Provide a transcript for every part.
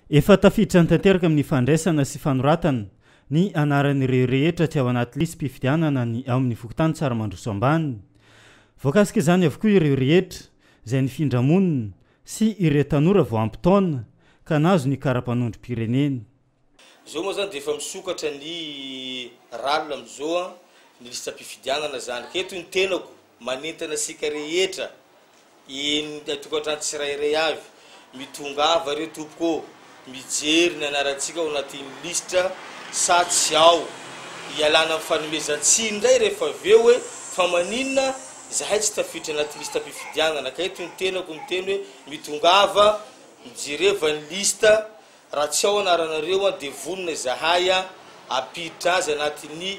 Efa tafiditra tanteraka amin'ny fandraisana sy fanoratana ny anaran'ireo rehetra tsy ao anaty lisi-pifidianana ny ao amin'ny fokontany Tsaramandroso Ambany. Voakasika izany avokoa ireo rehetra izay nifindra monina sy ireo tanora vao ampy taona ka nahazo ny kara-panondrom-pirenena. Zao moa zany dia efa misokatra ny rallye amizao an, ny lisitram-pifidianana zany, ka eto ny tenako manentana antsika rehetra eny an-tokantrano tsirairay avy, mitongava re tompoko ô, mijery ny anarantsika ao anatin'ny lisitra sa tsy ao, ialana amin'ny fanomezan-tsiny indray rehefa avy eo hoe fa maninona zahay tsy tafiditra anaty lisitram-pifidianana, ka eto ny tenako miteny hoe mitongava, mijereva ny lisitra Raha tsy ao anaranareo an dia vonona izahay an ampiditra azy anaty ny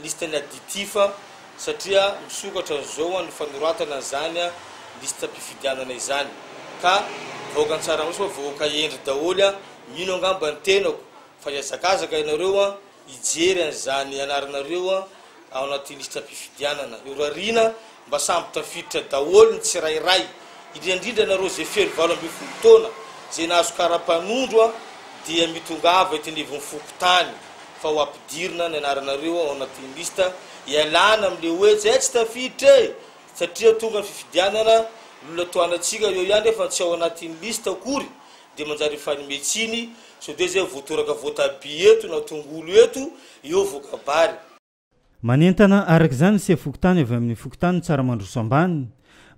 liste ny additif an satria misokatra an'izao an ny fanoratana an'izany an liste mpifidianana izany ka vahoaka an-tsaramaso fa vahoaka hendry daholo an mino angamba ny tenako fa hiazakazaka ianareo an hijery an'izany anaranareo ao anaty lisitram-pifidianana. Norariana mba samby tafiditra daholo ny tsirairay, indrindra-indrindra anareo izay feno valo ambin'ny folo taona, izay nahazo kara-panondro dia mitongava eto anivon'ny fokontany fa ho ampidirina ny anaranareo ao anatin'ny lisitra hialana amin'ilay hoe tsy hay tsy tafiditra e! satria tonga ny fifidianana, lolatoanantsika eo ihany efa tsy ao anatin'ny lisitra akory Dia manjary mifanome tsiny sao dia izay voatoraka voatabia eto na tongolo eto eo voakabary. Manentana araka izany ny sefom-pokontany avy amin'ny fokontany Tsaramandroso Ambany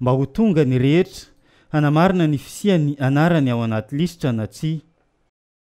mba ho tonga ny rehetra hanamarina ny fisian'ny anarany ao anaty lisitra na tsia.